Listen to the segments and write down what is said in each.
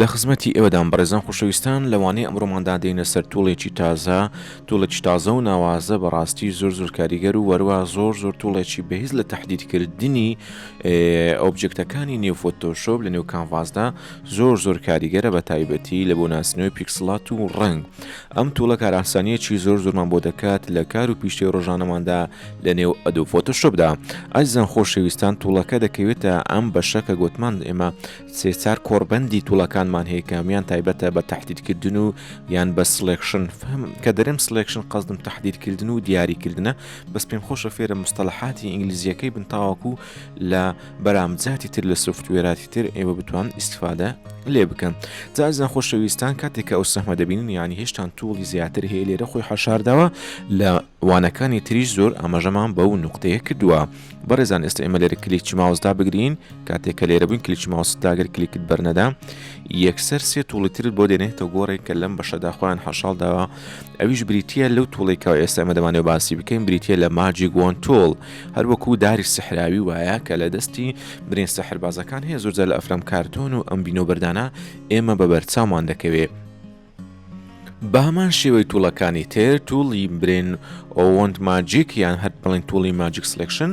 لە خزمەتی ئێوەدام بەڕێزان خۆشەویستان لەوانەیە ئەمڕۆماندا دێنە سەر توڵێکی تازە توڵێکی تازە و ناوازە بەڕاستی زۆر زۆر کاریگەر و وەروە زۆر زۆر توڵێکی بەهیز لە تهدیدکردنی ئۆبجکتەکانی نێو فۆتۆشۆب لە نێو کانڤازدا زۆر زۆر کاریگەرە بە تایبەتی لە بۆ ناسنەوەی پیکسلات و ڕنگ ئەم توڵە کاراسانیەکی زۆر زۆرمان بۆ دەکات لە کار و پیشتی ڕۆژانەماندا لە نێو ئەدو فۆتۆشۆبدا ئەزان خۆشەویستان توڵەکە دەکەوێتە ئەم بەشەکە گوتمان ئێمە سێ چار کۆڕبەندی توڵەکانمان هەیە کە هەموان تایبەتە بە تهدیدکردن و یان بە سڵێکشن فهم کە دەرێم سڵێکشن قەزدم تهدیدکردن و دیاریکردنە بەس پێم خۆشە فێرە مستەلەحاتی ئینگلیزیەکەی بن تاوەکو لە بەرامجاتی تر لە سوفتوێراتی تر ئێوە بتوان ئیسفادە لێ بکەن جازان خۆشەویستان کاتێکە ئەو سەحمە دەبین یانی هێشتان توڵی زیاتر هەیە لێرە خۆی حەشارداوە لە وانەکانی تریش زۆر ئاماژەمان بەو نقطەیە کردووە. بەڕێزان ئێستا ئێمە لێرە کلیچ ماوس دابگرین کاتێک کە لێرە بووین کلیچ ماوس داگر کلیکت بەرنەدا یەکسەر سێ توڵی ترت بۆ دێنێتە گۆڕێک کە لەم بەشەدا خۆیان حەشاڵ داوە ئەویش بریتە لەو توڵێکەوە ئێستا ئمە دەمانێ باسی بکەین بریتە لە ماجی گۆن تۆڵ هەروەکو داری سەحراوی وایە کە لە دەستی برێن سەحربازەکان هەیە زۆرجار لە ئەفرام کارتۆن و ئەم بینۆ بەردانە ئێمە بە بەرچاومان دەکەوێت بەهەمان شێوەی توڵەکانی تر توڵی برێن ئەوەند ماجیک یان هەر بڵین توڵی ماجیک سلکشن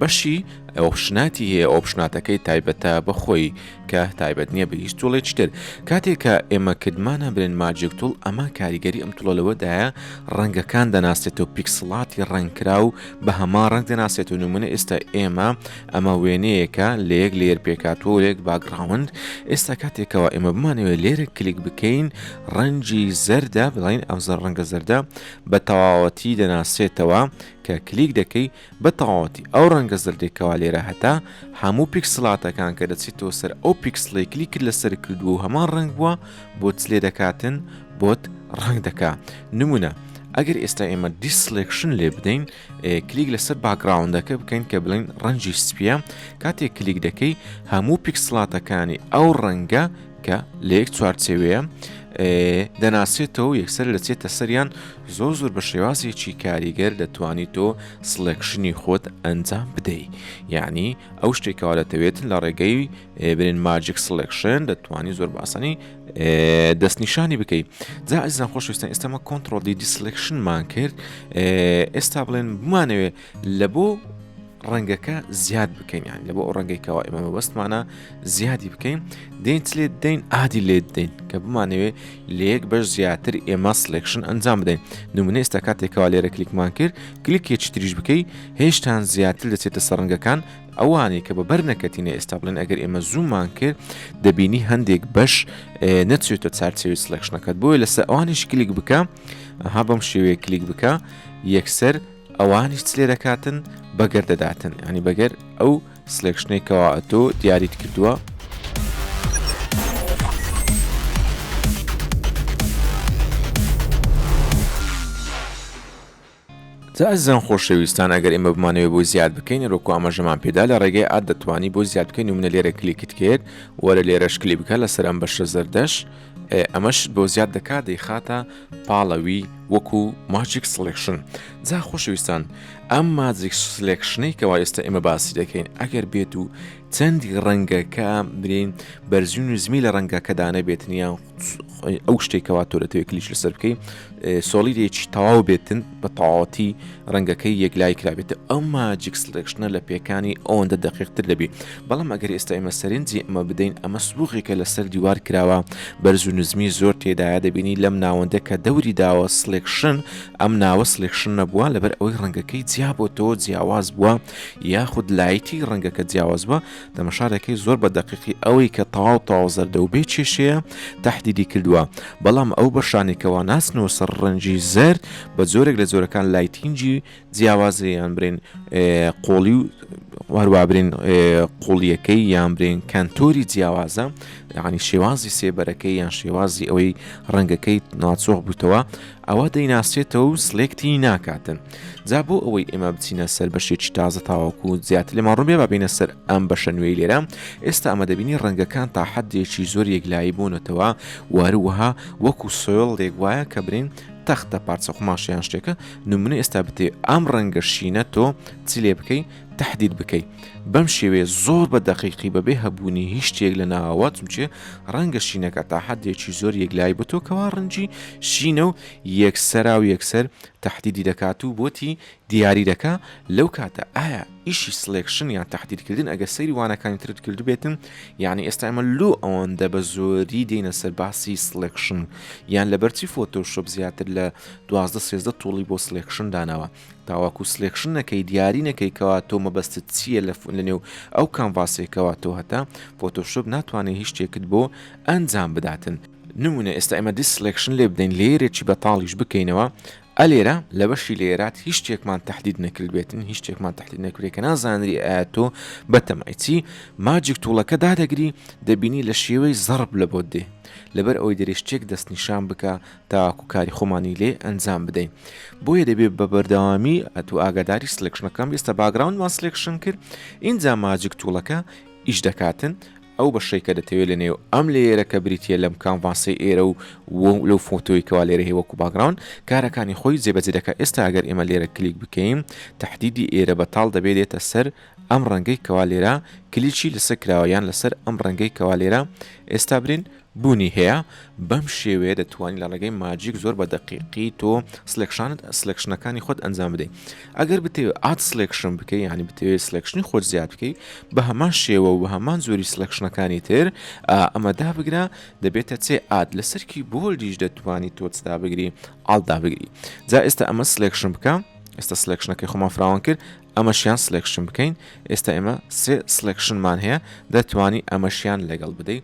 بەشی ئۆپشناتی هەیە ئۆپشناتەکەی تایبەتە بەخۆی کە تایبەت نییە بە هیچ توڵێکی تر کاتێک کە ئێمە کردمانە برێن ماجێک توڵ ئەمە کاریگەری ئەم توڵە لەوەدایە ڕەنگەکان دەناسێتەوە پیکسڵاتی ڕنگکرا و بە هەما ڕنگ دەناسێت و نمونە ئێستا ئێمە ئەمە وێنەیەکە لە یەک لێر پێکاتوە و یەک باگڕاوند ئێستا کاتێکەوە ئێمە بمانەوێت لێرە کلیک بکەین ڕەنجی زەردە بڵین ئەم زەر ڕەنگە زەردە بە تەواوەتی دەناسێتەوە کە کلیک دەکەی بە تەواوەتی ئەو ڕەنگە زەردێکەوە لێرە هەتا هەموو پیکسلاتەکان کە دەچێتەوە سەر ئەو پیکسلی کلی کرد لەسەر کردو و هەمان ڕنگ بووە بۆ چلێ دەکاتن بۆت ڕنگ دەکا نمونە ئەگەر ئێستا ئێمە دیسلێکشن لێ بدەین کلیک لەسەر باکگراوندەکە بکەین کە بڵین ڕەنجی سپیە کاتێک کلیک دەکەی هەموو پیکسلاتەکانی ئەو ڕەنگە کە لە یەک چوارچەوەیە دەناسێتەوە یەکسەر دەچێتە سەریان زۆر زۆر بە شێوازێکی کاریگەر دەتوانی تۆ سلێکشنی خۆت ئەنجام بدەیت یعنی ئەو شتێکەوە دەتەوێتن لە ڕێگەی برێن ماجیک سلێکشن دەتوانانی زۆر باسانی دەستنیشانی بکەیت جا ئەزان خۆشویستان ئێستەمە کۆنتترۆل دی دیسلکشنمان کرد ئێستا بڵێن بمانەوێت لە بۆ ڕەنگەکە زیاد بکەین یان لە بۆ ئەو ڕەنگێکەوە ئێمە بەستمانە زیادی بکەین دەین لێت دەین ئادی لێت دەین کە بمانەوێت لەیەک بەش زیاتر ئێمە سلێکشن ئەنجام بدەین نمونە ئێستا کاتێکەوە لێرە کلیکمان کرد کلیکێکی تریش بکەی هێشتان زیاتر دەچێتە سەرنگەکان ئەوانەی کە بە بەر نەکەتینە ئێستا بڵێن ئەگەر ئێمە زوومان کرد دەبینی هەندێک بەش نەچێتە چارچەوی سلکشنەکەت بۆیە لەسە ئەوانیش کلیک بکە ها بەم شێوەیە کلیک بکە یەکسەر ئەوانیش لێ دەکاتن بەگەر دەداتن ینی بەگەر ئەو سلکشنێکەوە تۆ دیاریت کردووە جا ئەزیزان خۆشەویستان ئەگەر ئێمە بمانەوێ بۆی زیاد بکەین ئەرۆکو ئاماژەمان پێدا لە ڕێگەی ئاد دەتوانی بۆی زیاد بکەین و منە لێرە کلیکت کرد وەرە لێرەش کلی بکە لەسەر ئەم بەشە زەردەش ئەمەش بۆ زیاد دەکات دەیخاتە پاڵەوی وەکو ماجیک سلێکشن جا خۆشەویستان ئەم ماجیک سلێکشنەی کەوا ئێستا ئێمە باسی دەکەین ئەگەر بێت و چەندی ڕەنگەکە برین بەرزین و زمی لە ڕەنگەکەدانە بێتنیان ئەو شتێک کەوا تۆ دەتەوێت کلیچ لەسەر بکەی سۆڵیدێکی تەواو بێتن بە تەواوەتی ڕەنگەکەی یەکلای کرابێت ئەمما جیکسلێکشنە لە پێکانی ئەوەندە دەقیقتر دەبی بەڵام ئەگەر ئێستا ئێمە سەرنجی ئەمە بدەین ئەمە سووغێکە لەسەر دیوار کراوە بەرز و نزمی زۆر تێدایە دەبینی لەم ناوەندە کە دەوری داوە سلێکشن ئەم ناوە سلێکشن نەبووە لەبەر ئەوەی ڕەنگەکەی جیا بۆ تۆ جیاواز بووە یاخود لایتی ڕەنگەکە جیاواز بووە تەمەشارەکەی زۆر بە دەقیقی ئەوەی کە تەواو تەواو زەردە و بێ کێشەیە تەحدیدی کردووە، بەڵام ئەو بەشانەی کە واناسن و سڕ ڕەنگی زەرد بە جۆرێک لە جۆرەکان لایتینگی جیاوازە یان برین قۆڵی و هەروە برین قوڵیەکەی یان برین کەنتۆری جیاوازە یعنی شێوازی سێبەرەکەی یان شێوازی ئەوەی ڕەنگەکەی ناچۆخ بووتەوە ئەوا دەیناسێتەوە و سلێکتی ناکاتن جا بۆ ئەوەی ئێمە بچینە سەر بەشێکی تازە تاواکو و زیاتر لە ماڕوبێ بابینە سەر ئەم بەشە نوێی لێرە ئێستا ئەمە دەبینی ڕەنگەکان تا حدێکی زۆر یەکلایی بوونەتەوە واروەها وەکو سۆل لێک وایە کە برین تەختە پارچە قوماشیان شتێکە نمونە ئێستا بتێ ئەم ڕەنگە شینە تۆ چ لێ بکەی تەحدید بکەی بەم شێوەیە زۆر بە دەقیقی بەبێ هەبوونی هیچ شتێک لە ناوەوە چونچێ ڕەنگە شینەکە تا حەدێکی زۆر یەکلایی بتۆ کەوا ڕەنگی شینە و یەکسەرا و یەکسەر تەحدیدی دەکات و بۆتی دیاری دەکا لەو کاتە ئایا ئیشی سڵێکشن یان تەحدیدکردن ئەگە سەیری وانەکانی ترت کردبێتن یعنی ئێستا ئەمە لۆ ئەوەندە بە زۆری دێنە سەر باسی سڵێکشن یان لەبەرچی فۆتۆ شۆپ زیاتر لە دوازدە سێزدە توڵی بۆ سڵێکشن داناوە تاوەکو سلێکشن نەکەی دیاری نەکەی کەوا تۆ مەبەستت چییە لە لە نێو ئەو کامڤاسێکەوە تۆ هەتا فۆتۆشۆپ ناتوانێت هیچ شتێکت بۆ ئەنجام بداتن نمونە ئێستا ئێمە دیس سلێکشن لێ بدەین لێرێکی بەتاڵیش بکەینەوە ئەلێرە لە بەشی لێرات هیچ شتێکمان تهدید نەکرد بێتن هیچ شتێکمان تهدید نەکرێت کە نازانری ئایا تۆ بەتەمایچی ماجیک توڵەکە دادەگری دەبینی لە شێوەی زەرب لە بۆ دێ لەبەر ئەوەی دەرێ شتێک دەستنیشان بکە تاکو کاری خۆمانی لێ ئەنجام بدەین بۆیە دەبێت بە بەردەوامی ئەتو ئاگاداری سلکشنەکەم ئێستا باگراوندمان سلکشن کرد ئینجا ماجک توڵەکە ئیش دەکاتن ئەو بەشەی کە دەتەوێت لە نێو ئەم لێرە کە بریتە لەم کامڤاسی ئێرە و لەو فۆتۆی کەوا لێرە هەیە وەکو باگراون کارەکانی خۆی جێبەجێ دەکات ئێستا ئەگەر ئێمە لێرە کلیک بکەین تهدیدی ئێرە بەتاڵ دەبێت دێتە سەر ئەم ڕەنگەی کەوا لێرە کلیچی لەسەر کراوە یان لەسەر ئەم ڕەنگەی کەوا لێرە ئێستا برین بوونی هەیە بەم شێوەیە دەتوانی لە ڕێگەی ماجیک زۆر بە دەقیقی تۆ سلێکشانت سلێکشنەکانی خۆت ئەنجام بدەیت ئەگەر بتەوێت ئات سلێکشن بکەی ینی بتەوێت سلێکشنی خۆت زیاد بکەی بە هەمان شێوە و هەمان زۆری سلێکشنەکانی تر ئەمە دابگرە دەبێتە چێ ئات لەسەرکی بۆلدیش دەتوانی تۆچدا بگری ئاڵدا بگری جا ئێستا ئەمە سلێکشن بکە ئێستا سلێکشنەکەی خۆمان فراوان کرد ئەمەشیان سلێکشن بکەین ئێستا ئێمە سێ سلێکشنمان هەیە دەتوانی ئەمەشیان لەگەڵ بدەیت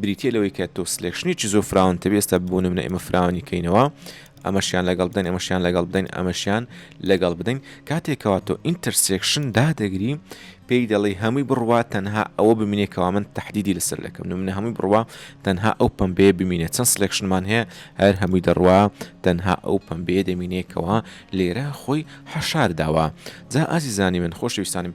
بریتیە لەوەی کە تۆ سلێکشنی چ زۆر فراون تەبێ ئێستا بۆ نمونە ئێمە فراوانی کەینەوە ئەمەشیان لەگەڵ بدەن ئەمەشیان لەگەڵ بدەین ئەمەشیان لەگەڵ بدەین کاتێکەوە تۆ ئینتەرسێکشن دادەگری پێی دەڵی هەمووی بڕوا تەنها ئەوە بمینێ کەوا من تهدیدی لەسەر لەکەم منە هەمووی بڕوا تەنها ئەو پمبێ بمینێت چەند سلێکشنمان هەیە هەر هەمووی دەڕوا تەنها ئەو پمبێ دەمینێکەوە لێرە خۆی حەشار داوە جا ئازیزانی من خۆشویستانیم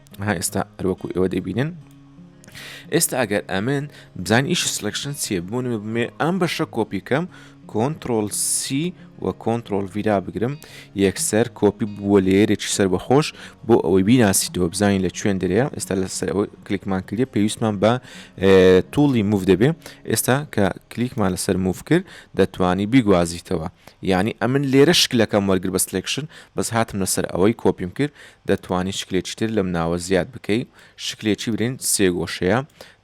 ها ئێستا هەروەکو ئێوە دەبینن ئێستا ئەگەر ئەمن بزان ئیش سلکشن چیە بوون بمێ ئەم بەشە کۆپی کەم کۆنتترۆل سی و کۆنتترۆل ویرا بگرم یەکسەر کۆپی بووە لێرێکی سەر بەخۆش بۆ ئەوەی بیناسیتەوە بزانین لە چێن دەرەیە ئێستا لە سەرەوە کلیکمان کردە پێویستمان بە توڵی موف دەبێ ئێستا کە کلیکمان لەسەر موف کرد دەتوانی بیگوازیتەوە یعنی ئەمن لێرە شکلەکەم وەرگر بە سلکشن بەس هاتم لەسەر ئەوەی کۆپیم کرد دەتوانی شکلێکی تر لەم ناوە زیاد بکەی شکلێکی برین سێ گۆشەیە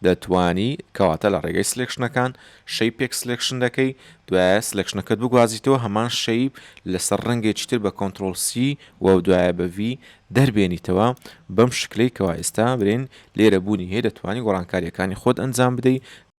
دەتوانی کەواتە لە ڕێگەی سلێکشنەکان شەی پێک سلێکشن دەکەی دوایە سلێکشنەکەت بگوازیتەوە هەمان شەی لەسەر ڕەنگێکی تر بە کۆنترۆل سی و دوایە بە ڤی دەربێنیتەوە بەم شکلەی کەوا ئێستا برین لێرە بوونی هەیە دەتوانی گۆڕانکاریەکانی خۆت ئەنجام بدەی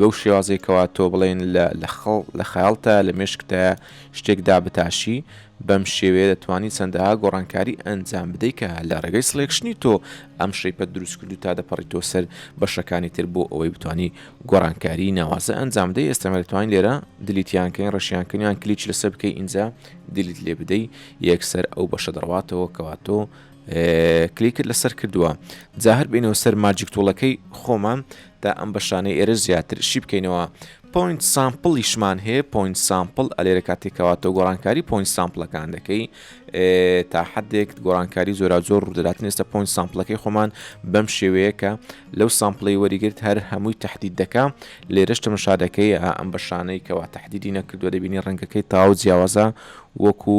بەو شێوازەی کەوا تۆ بڵێن لە خەیاڵتا، لە مێشکتا شتێک دابتاشی، بەم شێوەیە دەتوانی چەندەها گۆڕانکاری ئەنجام بدەی کە لە ڕێگەی سڵێکشنی تۆ ئەم شەیپەت دروست کردوو تا دەپەڕیتەوە سەر بەشەکانی تر بۆ ئەوەی بتوانی گۆڕانکاری ناوازە ئەنجام بدەی ئێستا ئێمە دەتوانین لێرە دیلیتیان کەین ڕەشیان کەین یان کلیچ لەسەر بکەی ئینجا دیلیت لێ بدەی یەکسەر ئەو بەشە دەڕواتەوە کەوا تۆ کلیکت لەسەر کردووە جا هەر بینەوە سەر ماجیک تۆڵەکەی خۆمان تا ئەم بەشانەی ئێرە زیاتر شی بکەینەوە پوینت سامپڵیشمان هەیە پوینت سامپل ئەلێرە کاتێکەوەتە گۆڕانکاری پوینت سامپلەکان دەکەی تا حدێک گۆڕانکاری زۆرا زۆر ڕوودەداتن ئێستا پوینت سامپلەکەی خۆمان بەم شێوەیە کە لەو سامپلی وەریگرت هەر هەمووی تهدید دەکا لێرەش تەمەشا دەکەی ئەم بەشانەی کەوا تهدیدی نەکردووە دەبینی ڕەنگەکەی تاو جیاوازە وەکو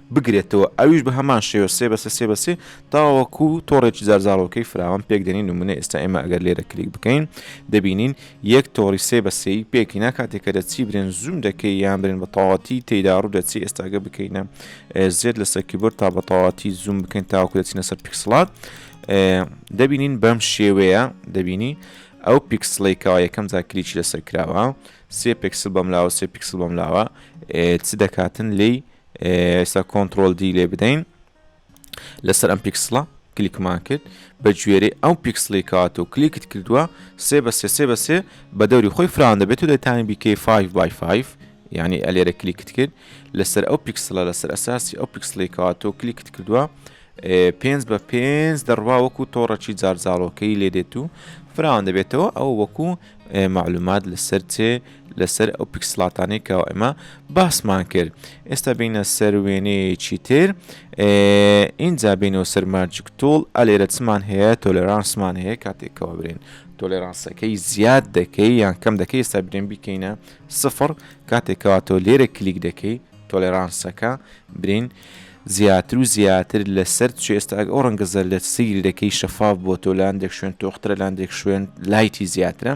بگرێتەوە ئەویش بە هەمان شێوە سێ بە سێ سێ بە سێ تاوەکو تۆڕێکی زارزاڵۆکەی فراوان پێک دێنین نمونە ئێستا ئێمە ئەگەر لێرە کلیک بکەین دەبینین یەک تۆڕی سێ بە سێی پێکینا کاتێکە دەچی برێن زووم دەکەی یان برێن بە تەواتی تێدا ڕوو دەچی ئێستاگە بکەینە زێت لەسەر کیبۆرد تا بە تەواتی زووم بکەین تاوەکو دەچینە سەر پیکسڵات دەبینین بەم شێوەیە دەبینی ئەو پیکسڵی کەوا یەکەم جا کلیکی لەسەر کراوە سێ پێکسل بەملاوە سێ پیکسل بەملاوە چ دەکاتن لی ئێستا کۆنتترۆل دی لێ بدەین لەسەر ئەم پیکسڵە کلیکمان کرد بە گوێرەی ئەو پیکسلی کات و کلیکت کردووە سێ بە سێ سێ بە سێ بە دەوری خۆی فران دەبێت و دەتانی بیکەی 5 بای 5 ینی ئەلێرە کلیکت کرد لەسەر ئەو پیکسلە لەسەر ئەساسی ئەو پیکسلی کات و کلیکت کردووە پێنج بە پێنج دەڕوا وەکو تۆڕەکی جارجاڵۆکەی لێ دێت و فراوان دەبێتەوە ئەو وەکو معلومات لەسەر چێ لەسەر ئەو پیکسلاتانەی کە ئێمە باسمان کرد ئێستا بینە سەر وێنەیەکی تر ئینجا بینەوە سەر ماجیک تۆڵ ئەلێرە چمان هەیە تۆلرانسمان هەیە کاتێکەوە برێن تۆلێرانسەکەی زیاد دەکەی یان کەم دەکەی ئێستا برێن بیکەینە سفر کاتێکەوە تۆ لێرە کلیک دەکەی تۆلێرانسەکە برین زیاتر و زیاتر لە سەر چ ئێستا ئەو ڕەنگە زەردەت سیری دەکەی شەفاف بۆ تۆ لاندێک شوێن تۆخترە لاندێک شوێن لایتی زیاترە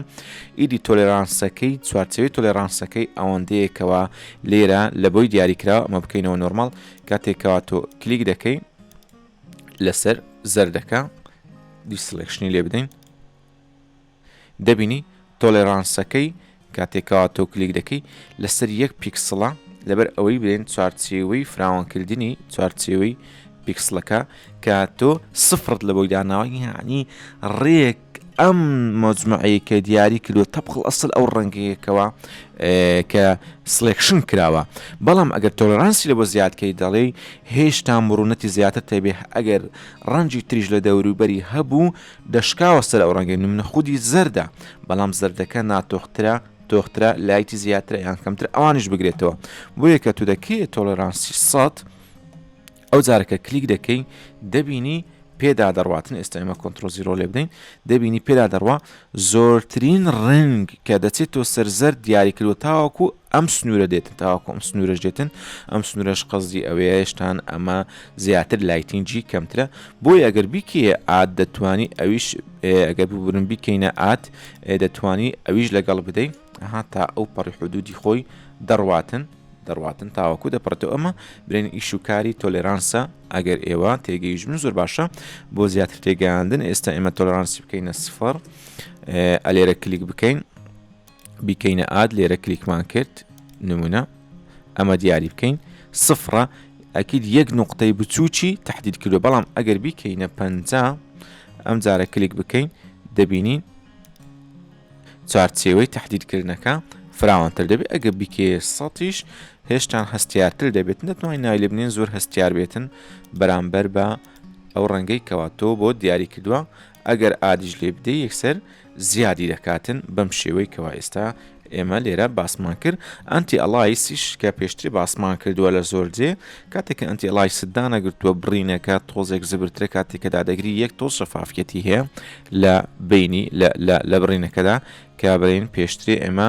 ئیدی تۆلێرانسەکەی چوارچەوەی تۆلێرانسەکەی ئەوەندەیەکەوە لێرە لە بۆی دیاریکراوە ئەمە بکەینەوە نۆرمال کاتێکەوە تۆ کلیک دەکەی لەسەر زەردەکە دیسلکشنی لێ بدەین دەبینی تۆلێرانسەکەی کاتێ کەوا تۆ کلیک دەکەی لەسەر یەک پیکسڵە لەبەر ئەوەی بلێن چوارچێوەی فراوانکردنی چوارچێوەی پیکسڵەکە کە تۆ سفرت لە بۆی داناوە یعنی ڕێک ئەم مەجمعەیە کە دیاری کردو تەبقل ئەسل ئەو ڕەنگەیەکەوە کە سلێکشن کراوە بەڵام ئەگەر تۆلرانسی لە بۆ زیادکەی دەڵێ هێشتا مرونەتی زیاتر تێبێ ئەگەر ڕەنجی تریش لە دەوروبەری هەبوو دەشکاوە سەر ئەو ڕەنگەی نمونە خودی زەردە بەڵام زەردەکە ناتۆخترە تۆخترە لایتی زیاترە یان کەمتر ئەوانیش بگرێتەوە بۆیە کە تو دەکەی تۆڵێرانسی سەد ئەو جارەکە کلیک دەکەی دەبینی پێدا دەڕواتن ئێستا ئێمە کۆنتترۆ زیرۆ لێ بدەین دەبینی پێدا دەڕوا زۆرترین ڕنگ کە دەچێت تۆ سەرزەر دیاریکردوە تاوەکو ئەم سنورە دێتن تاوەکو ئەم سنورەش دێتن ئەم سنورەش قەزی ئەوەیە هێشتان ئەمە زیاتر لایتین جی کەمترە بۆی ئەگەر بیکەیە ئاد دەتوانی ئەویش ئەگەر ببورن بیکەینە ئاد دەتوانی ئەویش لەگەڵ بدەین ها تا ئەو پەڕی حدودی خۆی دەڕواتن دەڕواتن تاوەکو دەپڕێتەوە ئەمە برێن ئیش و کاری تۆلێرانسە ئەگەر ئێوە تێگەیش من زۆر باشە بۆ زیاتر تێگەیاندن ئێستا ئێمە تۆلرانسی بکەینە سفر ئەلێرە کلیک بکەین بیکەینە ئاد لێرە کلیکمان کرد نمونە ئەمە دیاری بکەین سفرە ئەکید یەک نقطەی بچووکی تهدید کردو بەڵام ئەگەر بیکەینە پ ئەم جارە کلیک بکەین دەبینین چارچێوەی تهدیدکردنەکە فراوانتر دەبێت ئەگە بیکێ سەیش هێشتان هەستیارتر دەبێت نەتوانین ناوی لە بنین زۆر هەستیار بێتن بەرامبەر بە ئەو ڕەنگەی کەواتۆ بۆ دیاری کردووە ئەگەر ئادیش لێ بدەی یەکسەر زیادی دەکاتن بەم شێوەی کەوا ئێستا ئێمە لێرە باسمان کرد ئەنتی ئەلایسیش کە پێشتری باسمان کردووە لە زۆر جێ کاتێککە ئەنتی ئەلای سدانەگرتووە بڕینەکە تۆزێک زبرترە کاتێک کە دادەگری یەک تۆز شەفافەتی هەیە لە بینی لە بڕینەکەدا کابرین پێشتری ئێمە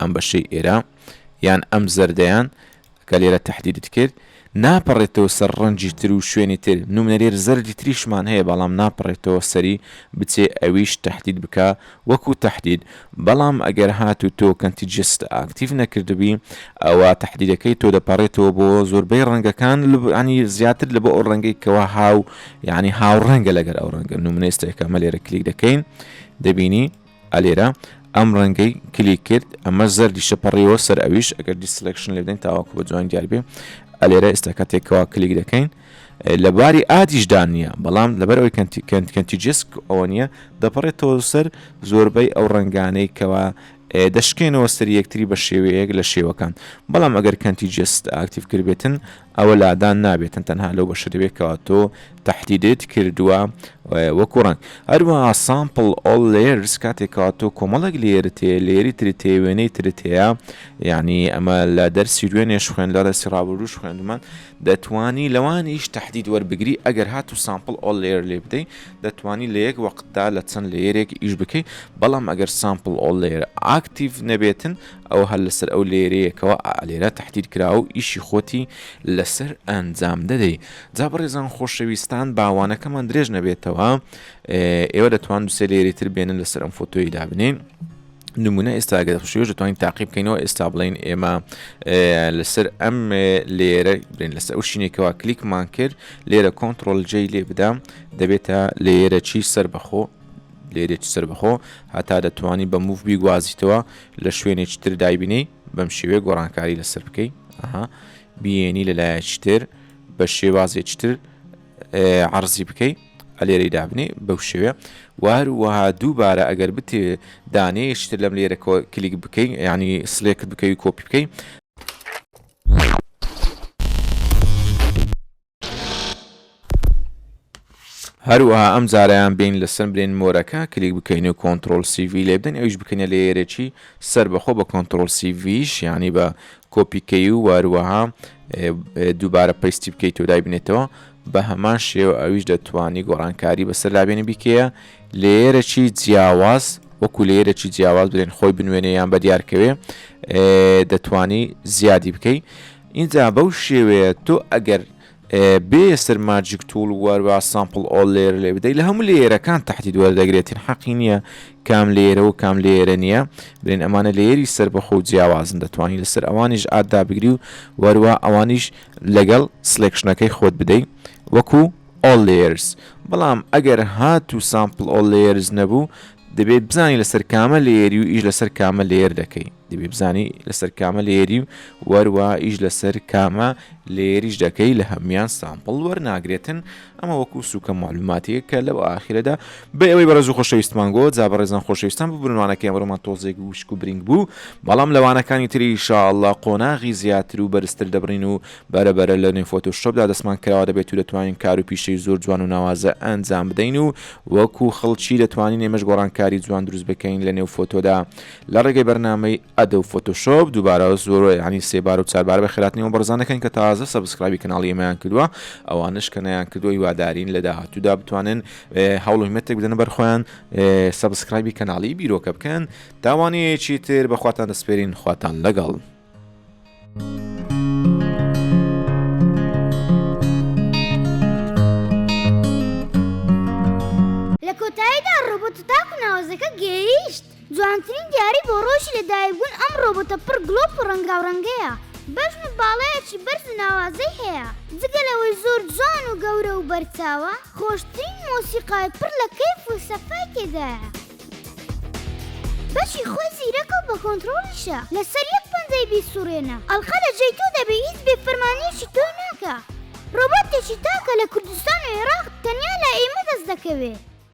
ئەم بەشەی ئێرە یان ئەم زەردەیان کە لێرە تهدیدت کرد ناپەڕێتەوە سەر ڕەنجی تر و شوێنی تر نمونەێر زەردی تریشمان هەیە بەڵام ناپەڕێتەوە سەری بچێ ئەویش تهدید بکە وەکو تهدید بەڵام ئەگەر هات و تۆ کەنتی جست ئاکتیف نەکردبی ئەوە تهدیدەکەی تۆ دەپەڕێتەوە بۆ زۆربەی ڕەنگەکان ینی زیاتر لە بۆ ئەو ڕەنگەی کەوا هاو یعنی هاو ڕەنگە لەگەر ئەو ڕەنگە نمونێستێکە مە لێرە کلیک دەکەین دەبینی ئەلێرە ئەم ڕەنگەی کلیک کرد ئەمە زەردیشە پەڕیەوە سەر ئەویش ئەگەر دیسلکشن لێدەین تاواکو بە جوان دیار بێ ئەلێرە ئێستا کاتێکەوە کلیک دەکەین لە باری ئادیشدا نییە بەڵام لەبەر ئەوی کەنتی کەنت کەنتی جسک ئەوە نییە دەپەڕێتەوە سەر زۆربەی ئەو ڕنگانەی کەوا دەشکێنەوە سەر یەکتری بە شێوەیەک لە شێوەکان بەڵام ئەگەر کەنتی جست ئاکتیف کردبێتن ئەوە لادان نابێتن تەنها لەو بەشە دەبێت کەوا تۆ تهدیدت کردووە وەکو ڕەنگ هەروەها سامپل ئۆل لێرز کاتێکەوە تۆ کۆمەڵێک لێرت هەیە لێری ترت هەیە وێنەی ترت هەیە یعنی ئەمە لە دەرسی وێنێش خوێن لە دەستی ڕابروش خوێندمان دەتانی لەوانیش تهدید وەربگری ئەگەر هات و سامپل ئۆل لێر لێ بدەین دەتانی لە یەک وەقتدا لە چەند لێرێک ئیش بکەیت بەڵام ئەگەر سامپل ئۆل لێر ئاکتیڤ نەبێتن ئەوە هەر لەسەر ئەو لێرەیە کەوا ئالێرە تەحدید کراو ئیشی خۆتی لەسەر ئەنجام دەدەی جا بەڕێزان خۆشەویستان باوانەکەمان درێژ نەبێتەوە ئێوە دەتوان دوسێ لێری تر بێنن لەسەر ئەم فۆتۆی دابنین نمونە ئێستاگە دەخشێش دەتوانین تاقی بکەینەوە ئێستا بڵین ئێمە لەسەر ئەم لێرە برێن لەسەر ئەو شینێکەوە کلیکمان کرد لێرە کۆنتترۆل جێ لێ بدەم دەبێتە لێرە چی سەر بەخۆ لێرێت سەر بەخۆ هەتا دەتوانی بە موف بیگوازیتەوە لە شوێنێکی تر دایبنێی بەم شێوەیە گۆڕانکاری لەسەر بکەی ئەها بیێنی لە لایەکی تر بە شێوازێکی تر عرضی بکەی ئەلێرەی دابنێ بەو شێوێ واروەها دووبارە ئەگەر بتێ دانێشتر لەم لێرە کلیک بکەین ینی سلێکت بکەوی کۆپی بکەین هەروەها ئەم جارەیان بێین لەسەر برێن مۆرەکە کلیک بکەین و کۆنتترۆل CV لێ بدەین ئەوش بکەینە لە یێرێکی سەر بەخۆ بە کۆنتترۆل سیVش یعنی بە کۆپیکەی و واروەها دووبارە پەیستی بکەیت و دای بنێتەوە بە هەمان شێوە ئەویش دەتوانی گۆڕانکاری بەسەر لابێنی بیکەیە لێرەکی جیاواز وەکو لێرەکی جیاواز برێن خۆی بنوێنێ یان بە دیارکەوێ دەتانی زیادی بکەیت ئینجا بەو شێوەیە تۆ ئەگەر بێ یەسر ماجیک توڵ وەروا سامپڵ ئۆڵ لێر لێ بدەی لە هەموو لێرەکان تحتی دوەردەگرێتین حەقی نییە کام لێرە و کام لێرە نییە برێن ئەمانە لێری سەر بەخۆ جیاوازن دەتوانانی لەسەر ئەوانیش ئادا بگری و وەروا ئەوانیش لەگەڵ سلێکشنەکەی خۆت بدەی وەکو ئۆڵ لێرز بەڵام ئەگەر هات و سامپڵ ئۆڵ لێرز نەبوو دەبێت بزانانی لەسەر کامە لێری و ئیش لەسەر کامە لێر دەکەی دەبێ بزانی لەسەر کامە لێری و وەروە ئیش لەسەر کامە لێریش دەکەی لە هەموان سامپڵ وەرناگرێتن ئەمە وەکو سوکە معلوماتەیە کە لەو ئاخرەدا بە ئەوەی بەڕێز و خۆشەویستمان گۆ جا بەڕێزان خۆشەویستان ببرنوانەکە ئەمرۆمان تۆزێک وشک و برنگ بوو بەڵام لەوانەکانی تری شاءله قۆناغی زیاتر و بەرزتر دەبڕین و بەرەبەرە لە نوێ فۆتۆ شۆپدا دەستمان کراوە دەبێت و دەتوانین کار و پیشەی زۆر جوان و ناوازە ئەنجام بدەین و وەکو خەڵکی دەتوانین ئێمەش گۆڕانکاری جوان دروست بکەین لە نێو فۆتۆدا لە ڕێگەی بەرنامەی ئەدۆب فۆتۆشۆپ دووبارە زۆرۆ یانی سێبارە و چاربارە بە خێراتنی ئەو بەڕێزانە کەن کە تازە سەبسکرایبی کەناڵی ئێمەیان کردووە ئەوانەش کە نەیان کردووە هیوادارین لە داهاتوودا بتوانن هەوڵ و هیمەتێک بدەنە بەر خۆیان سەبسکرایبی کەناڵی بیرۆکە بکەن تاوانەیەکی تر بەخواتان دەسپێرین خواتان لەگەڵ. لە کۆتاییدا ڕۆبۆتە تاکو ناوەزەکە گەیشت. جوانترین دیاری بۆ ڕۆژی لەدایکبوون ئەم ڕۆبۆتە پڕ گڵۆپ و ڕەنگاوڕەنگەیە. بەزم و باڵایەکی بەرز و ناوازەی هەیە. جگە لەوەی زۆر جوان و گەورە و بەرچاوە، خۆشترین مۆسیقای پڕ لە کەیف و سەفای تێدایە. بەشی خۆی زیرەکە و بە کۆنترۆڵیشە لەسەر یەک پەنجەی بیسوڕێنە ئەڵقە لە جێی تۆ دەبێ هیچ بێ فەرمانیەکی تۆی ناکا ڕۆبۆتێکی تاکە لە کوردستان و ئێراق تەنیا لای ئێمە دەست دەکەوێ.